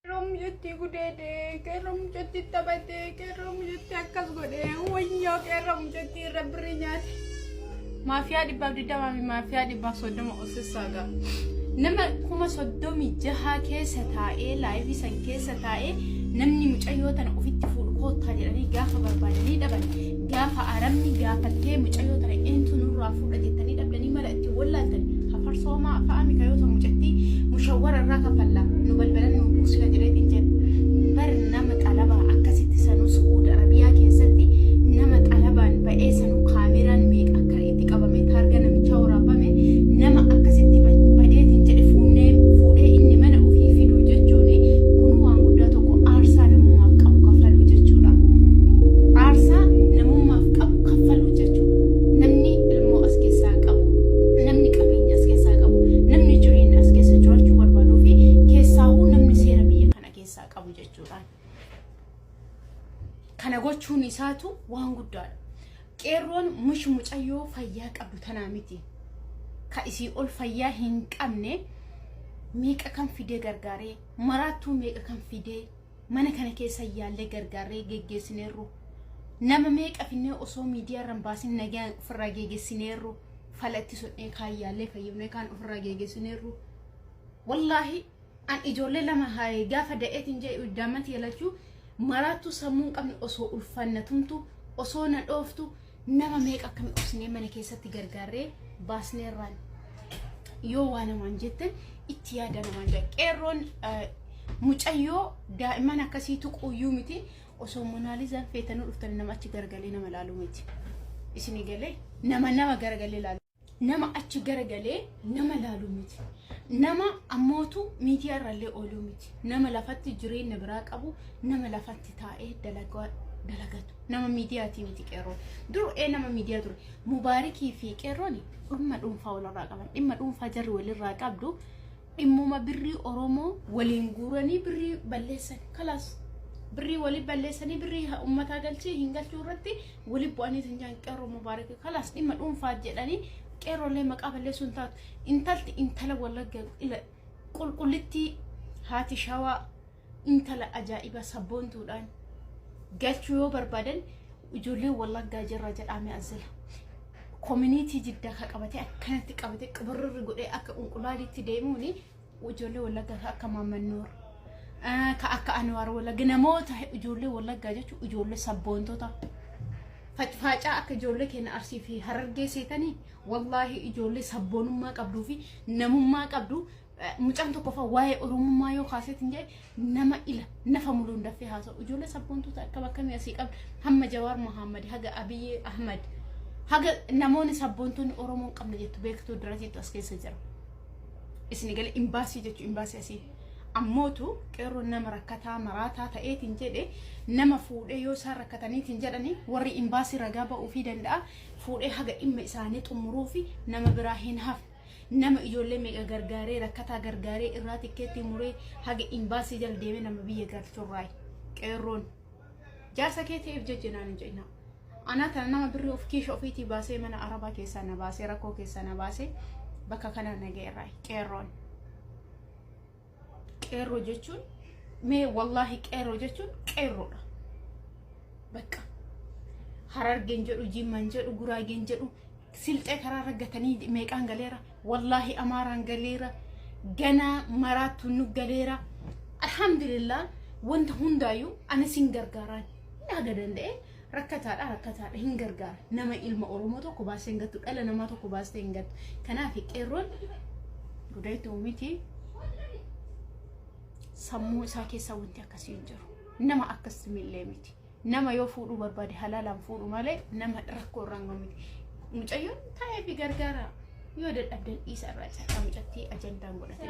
Qeerroo mucatti gudeede, qeerroo mucatti taphate, qeerroo mucatti akkas godhe, wayyoo qeerroo mucatti irra birrii nyaate. Maafiyaa dhibbaaf digdamaa fi maafiyaa dhibbaaf soddoma osissaa gaa. Nama kuma soddomii jahaa keessa taa'ee laayivii san keessa taa'ee namni mucayyoo tana ofitti fuudhu koottaa jedhanii gaafa barbaadanii dhaban Gaafa Arabni gaafattee mucayyoo tana eentu nurraa fuudha jettanii dhabdanii mala itti wallaaltan hafarsoo maa fa'a mika yoo ta'u mucattii mushawwara irraa kafalla nu balbalan nu buusina jedheetiin jedhu. Bar nama xalabaa akkasitti sanuu Su'uud Arabiyaa keessatti nama xalabaan ba'ee sanuu kaameraan meeqa akka itti qabamee taargaa namichaa waraabame nama akkasitti badeetiin jedhe fuunnee fuudhee inni mana ofii fiduu jechuun kun waan guddaa tokko aarsaa namummaaf qabu kaffaluu jechuudha. Aarsaa namummaaf qabu kaffaluu jechuudha. Namni ilmoo as keessaa qabu, namni qabeenya as keessaa qabu, namni jireenya as keessa jiraachuu barbaaduu fi keessaahuu namni seera biyya kana keessaa qabu jechuudha. Kana gochuun isaatu waan guddaadha. Qeerroon mush mucayyoo fayyaa qabdu tanaa miti. Ka isii ol fayyaa hin qabne meeqa kan fidee gargaaree maraattuu meeqa kan fidee mana kana keessa yaallee gargaarree geggeessineerru. Nama meeqa finnee osoo miidiyaa irra hin baasin nagaan ofirraa geggeessineerru. Falatti sodhee kaan yaallee fayyifnee kaan ofirraa geggeessineerru. Wallaahi An ijoollee lama haye gaafa da'eetiin jee uddaammati yalachuu maraattuu sammuu hin qabne osoo ulfaan na tumtu osoo na dhooftu nama meeqa akkami obsinee mana keessatti gargaarree baasneerraan yoo waa namaan jettan itti yaada namaan jedha qeerroon eh, mucayyoo daa'imman akkasii tuquuyyuu miti osoo monaalizaan feetanuu dhuftanii nama achi garagalee nama laaluu miti isin galee nama nama garagalee laaluu. nama achi garagalee nama laalu miti. Nama ammootu miidiyaa irrallee ooluu miti. Nama lafatti jireenya biraa qabu, nama lafatti taa'ee dalagaa dalagatu. Nama miidiyaatii miti qeerroon. Dur ee nama miidiyaa ture. Mubaarikii fi qeerroon dhimma dhuunfaa walirraa qaban. Dhimma dhuunfaa jarri walirraa qabdu dhimmuma birrii Oromoo waliin guuranii birrii balleessan. Kalaas birrii walii balleessanii birrii ummataa galchee hin galchuu irratti wali bu'anii isin jedhan qeerroo mubaarak kalaas dhimma dhuunfaa jedhanii qeerroolee maqaa balleessuu hin taatu intalti intala wallagga ila qulqullittii haati shawaa intala ajaa'iba sabboontuudhaan galchuu yoo barbaadan ijoollee wallaggaa jirra jedhaame asila koominiitii jiddaa ka qabate akkanatti qabate qabarrirri godhee akka qunqulaaliitti deemuuni Ijoollee Wallaggaa ka akka Maamman Nuur, ah, ka akka Anwaar Wallagga namoota he- ijoollee Wallaggaa jechuun ijoollee sabboontota. Facfaacaa akka ijoollee keenya Arsii fi Harargee seetanii wallaahi ijoollee sabboonummaa qabduu fi namummaa qabdu eh, mucaan tokkoffaa waa'ee Oromummaa yoo kaaseetiin jedhe nama ila nafa muluun daffee haasa'u ijoollee sabboontuuta akkam akkamii asii qabna hamma jawaar muhammad haga abiyyi ahmad haga namoonni sabboontuun oromoon qabna jettu beektuu dirateettu as keessa jira isin gale imbaasii jechu imbaasii asii ammootu qeerroo nama rakkataa maraataa ta'eetiin jedhe nama fuudhee yoo isaan rakkataniitiin jedhani warri imbaasii ragaa ba'uufii danda'a fuudhee haga dhimma isaanii xumuruu fi nama biraa hin hafne nama ijoollee meeqa gargaaree rakkataa gargaaree irraa tikkeetti muree haga imbaasii jala deemee nama biyya galchurraayi qeerroon jaarsa kee ta'eef jecha naan hin jedhina anaa tana nama birrii of kiisha ofiitii baasee mana arabaa keessaa na baasee rakkoo keessaa na baasee bakka kanaa na ga'eerraayi qeerroon. Qeerroo jechuun mee wallaahi qeerroo jechuun qeerroodha. Bakka harargeen jedhu jimman jedhu guraageen jedhu silxee karaarra gatanii meeqaan galeera wallaahi amaaraan galeera ganaa maraattu nu galeera alhamdulillah wanta hundaayyuu ani sin gargaaraan haga danda'e Rakkataadha rakkataadha hin gargaara nama ilma oromoo tokko baastee hin gattu dhala namaa tokko baastee hin gattu kanaaf qeerroon gudaitti uumiti sammuu isaa keessaa wanti akkasii hin jiru nama akkas millee miti nama yoo fuudhuu barbaade halaalaan fuudhu malee nama rakkoo irraan gahu miti mucayyoon taa'ee fi gargaara yoo dadhabdan dhiisa irraa caqaa mucattii ajandaan godhatee.